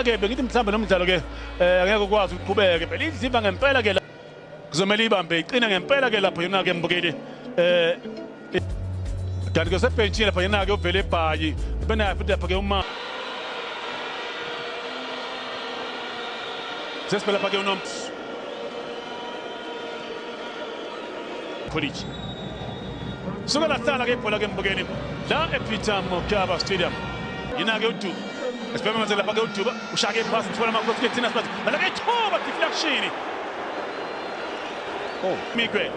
ke bengithi mhlawumbe lo mdlalo ke eh, angeke ukwazi ukuqhubeke phela idliva ngempela ke la kuzomele ibambe iqine ngempela ke lapho yona ke mbukeli eh kanti ke sebhentshini lapha yena ke uvele ebhayi benaye futhi lapha ke uma sesibela lapha ke unoms Police suka lahlala ke ibhola ke mbukeli la ePeter Mokaba Stadium yena ke udu Sibhema manje lapha ke uJuba ushaya ke pass uthola amakhosi ke thina sibathi bala ke thoba deflection. Oh, Migwe.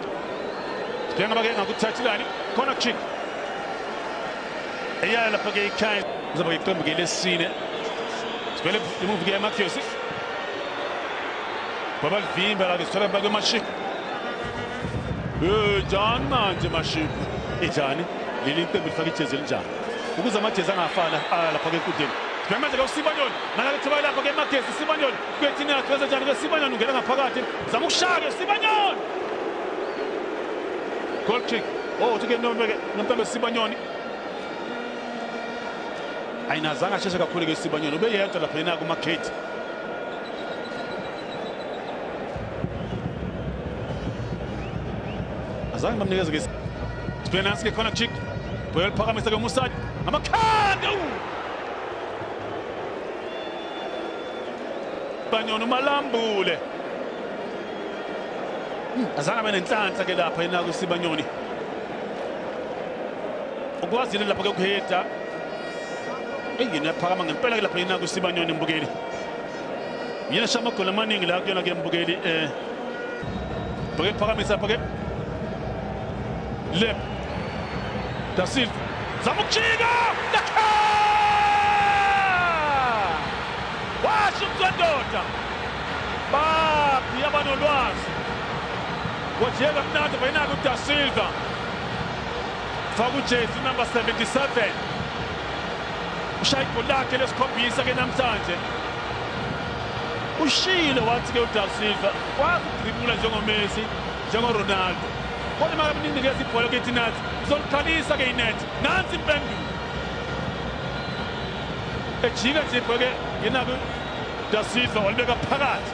Sibhema bake ngakuthathilani corner kick. Eya lapha ke ikhaya uzoba iqembu ke lesine. Sibhele imove ke Matthews. Baba livimba la ke sithola bake maship. Eh, John manje maship. Ijani leli iqembu lifaka ijezi elinjani? ukuze amajezi angafani ah, lapha-ke enkundleni Memezela uSibanyoni nakalithiba lakho ke Magesi Sibanyoni kwethini yakhe wenza njani ke Sibanyoni ungena ngaphakathi zama ukushaya ke Sibanyoni Goal kick oh uthi ke nomeke nomntana Sibanyoni ayinazanga asheshe kakhulu ke Sibanyoni ubeyedwa lapha yena kuma Kate azange bamnikeze ke Spenance ke khona chick Boyel phakamisa ke Musad amakhanda Banyona umalambule hmm, azange abe nenhlanhla ke lapha yena kusibanyoni ukwazile lapha ke ukuheda engine yaphakama ngempela ke lapha yena kusibanyoni mbukeli Yena shamagoli amaningi la kuyona ke mbukeli eh Bheke phakamisa bheke Lep Da Silva zama ukujika Dakha Washo umzwendoda Babi abanolwazi Wajeka mnandi bayinaka uDa Silva Faka ujezi number 77 ushaya igoli lakhe lesikhombisa ke namhlanje ushiyile wathi-ke udav silver wakudribula njengomesi njengoronaldo kodwa imaka mninikeza ibhola kithi nathi sizoliqalisa-ke inethi nansi impendulo ejika nje ibhoke ngenako da silva walibeka phakathi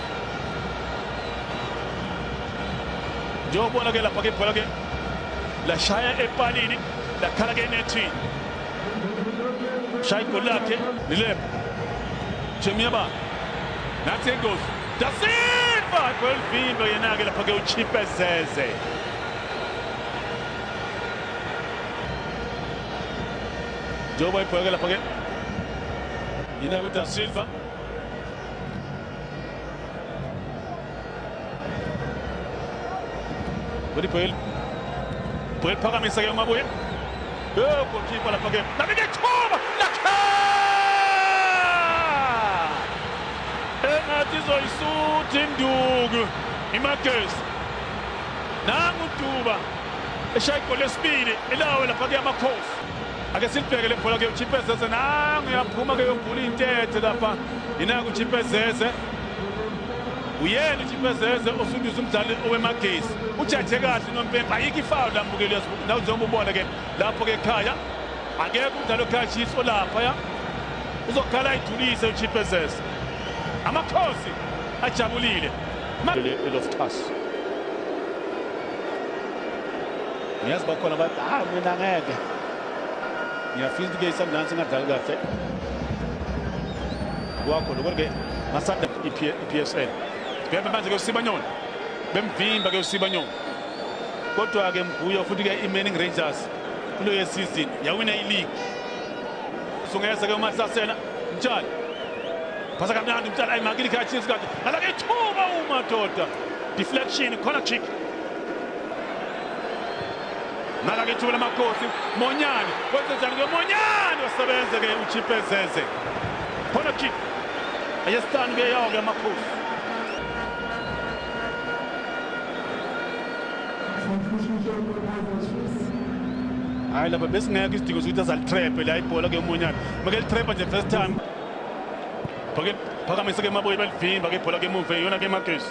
njengokubona-ke lapha-ke ibhola-ke lashaya epalini lakhala-ke enethini shaya igoli lakhe nilebo chemiyaba nathi engozi dasilva kwelivindo yena-ke lapha-ke uchipezeze njengoba ibheke lapha-ke yena-ke udasilva Good Puel. Puel phakamisa ke umabuye. Eh goalkeeper lapha ke. Nabeke thoba lakha. Engathi zoyisuthi induku. Imakes. Nangu Duba. Eshaya igoli lesibili elawe lapha ke amakhosi. Ake silibheke le bhola ke uChipezeze nangu yaphuma ke yogula intethe lapha. Yina uChipezeze. uyena uthipezeze osundisa umdlali owemagesi ujaje kahle unompempe ayikho ifawu lambukeli naw njengoba ubona ke lapho ke khaya akekho umdlali okhaya chiefs olaphaya uzokhala ayidulise uthipezeze amakhosi ajabulile elosixhaso ngiyazi bakhona bathi hayi mina ngeke ngiyafisa ukuthi ke isundowns ingadlali kahle wakho lokho ke masanda i-psl bebe manje ke usibanyoni bemvimba ke usibanyoni kodwa ke mguyo futhi ke i-manning rangers kulo yesizini yawina iligi sungeza ke umahlasela mtshali phasa kamnandi mtshali ayimakile ikhathi isikade alake ithuba umadoda deflection corner kick Naka ke ithuba lamakhosi Monyane wenze njani ke Monyane wasebenze ke uchipe zeze khona kick ayesitani ke yawo ke amakhosi hayi lapha besingekho isidingo sokuthi azalitrepe la ibhola ke umonyana make litrepa nje first time phakamise ke maboyi balivimba ke ibhola ke emuva iyona ke magesi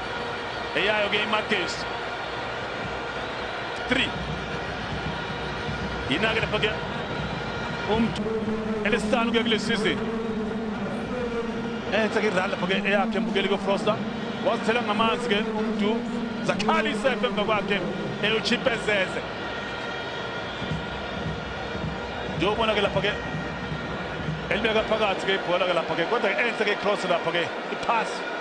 eyayo ke imagesi 3 yinake lapha ke umntu elesihlanu ke kule sizini enhle ke idlala lapha ke eyakhe embukeli kofrosta wazithela ngamanzi ke umntu zakhala isefe emva kwakhe eyochipezeze ndiyobona ke lapha ke elibeka phakathi ke ibhola ke lapha ke kodwa ke enhle ke cross lapha ke iphasi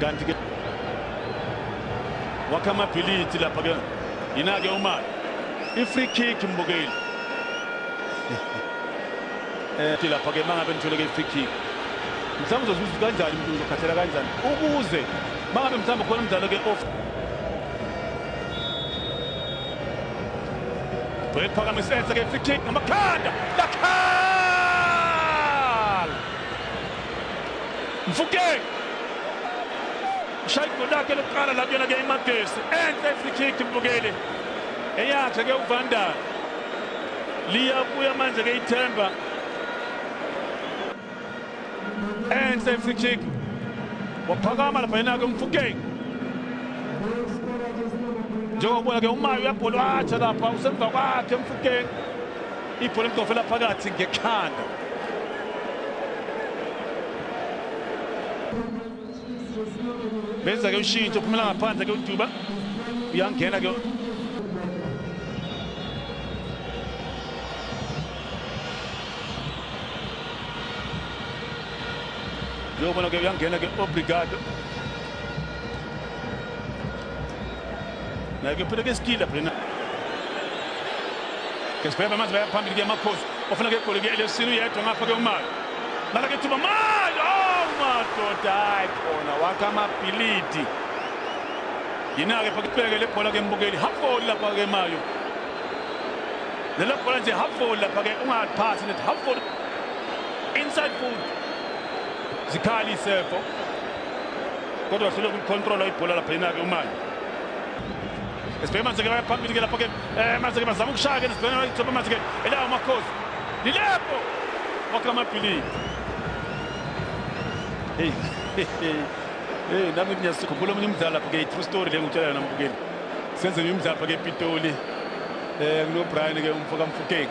kanti ke wakha amabhilithi lapha ke yina-ke umali i-free kick mbukeli eh, um lapha ke uma ngabe nithole ke i-free kick mhlawumbe uzozuza kanjani mntu uzokhathela kanjani ukuze uma ngabe mhlawumbe khona umdlalo ke off Brett Pagamisetse ke free kick ngamakhanda lakhanda Mfukeng ushaya igoli lakhe lokuqala la kuyona ke imagesi enhle free kick mbukeli eyakhe ke uvandal liyabuya manje ke ithemba enhle free kick waphakama lapha yena ke umfukeng njengokubuya ke umayo uyabholwatsha lapha usemva kwakhe mfukeng ibhola elidovela phakathi ngekhanda benza ke ushintsho phumela ngaphandle ke uduba uyangena ke uyobona ke uyangena ke obrigado Naye uphele ke isikila phela. Kesibheba manje bayaphambili ke amakhosi. Ofuna ke igoli ke LFC uyedwa ngapha ke umali. Nala ke thuba mali. Oh madoda hayi khona wakha amabhilidi. Yina ke phakubheke le bhola ke mbukeli. Hafoli lapha ke mayo. Lelo bhola nje hafoli lapha ke ungaphasi net hafoli. Inside foot. Zikhali sefo. kodwa hluleka ukulicontrola ibhola lapha yinake umane esibheke manje ke bayaphambili ke lapho ke um manje ke bazama ukushaya ke nesibheke ithoba manje ke elawo makhosi lilepho wakhe amabhilidi heyi heyi nami ngiyazikhumbula omunye umdlalo lapho ke i-true story le ngutshela yona mbukeli senze nje umdlalo apha ke epitoli um eh, kunobrian ke umfokamfukeng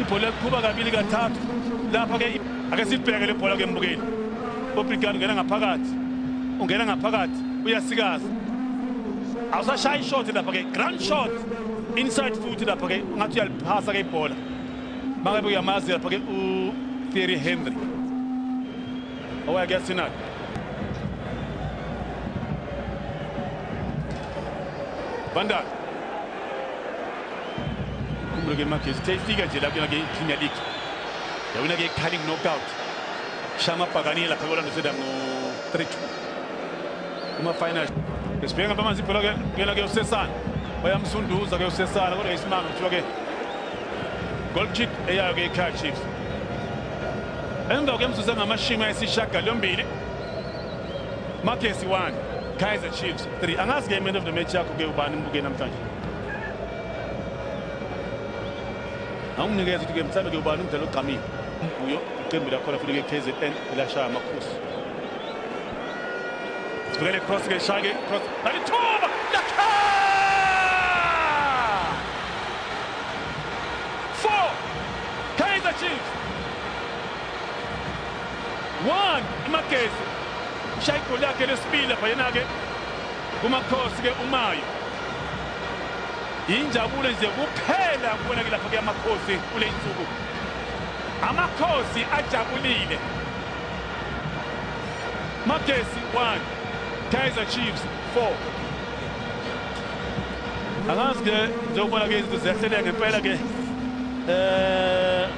ibhola liqhuba kabili kathathu lapha ke ake sibheke le bhola ke mbukeli obrigani ungena ngaphakathi ungena ngaphakathi uyasikaza awusashayi shot lapha ke grand shot inside foot lapha ke ngathi uyaliphasa ke ibhola mangabe uyamazi lapha ke u Thierry Henry owayakuyasinaka Van Dijk Kumbulo ke Magesi uthe ifika nje la kuyona ke Premier League. Yawina ke Carling knockout. Shama Paganila lapha koLando City ngo 3-2. Kuma final. Esibhenga bamanzi ibhola ke kuyona ke usesana. Bayamsunduza ke usesana kodwa isimanga kuthiwa ke goal kick eyayo ke iKaizer Chiefs. Emva kwemzuzu engamashumi ayisishagalombili Magesi 1 Kaizer Chiefs 3 angazi ke man of the match yakho ke ubani mbuke namhlanje anginikeza ukuthi-ke mhlawumbe kuyobani umdlalo ogqamile kuyo iqembu lakhona futhi ke kzn elashaya amakhosi sibukele cross ke shake cross alithuba lakha four kaizer chiefs one imagezi ushaya igoli yakhe lesibili lapha yena-ke Kumakhosi ke uMayo. Injabulo nje kuphela kubona ke lapha kuyamakhosi kule insuku. Amakhosi ajabulile. Magesi 1 Kaizer Chiefs 4 Angazi ke njengoba ke izinto ziyahleleka ngempela ke eh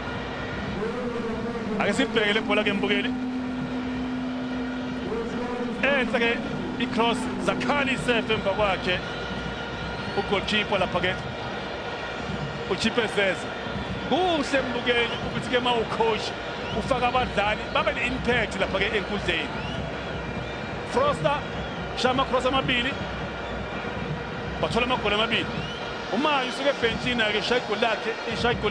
ake sibheke le bhola ke mbukeli enhle ke i-cross zakhali isefe emva kwakhe ugolkipa lapha ke uchipezeze kuhle mbukeli ukuthi ke ma ucoach ufaka abadlali babe ne-impact lapha ke enkundleni froster shaya amacross amabili bathola amagoli amabili umayo usuke ebhentshini ake ishaya igoli lakhe ishaya igoli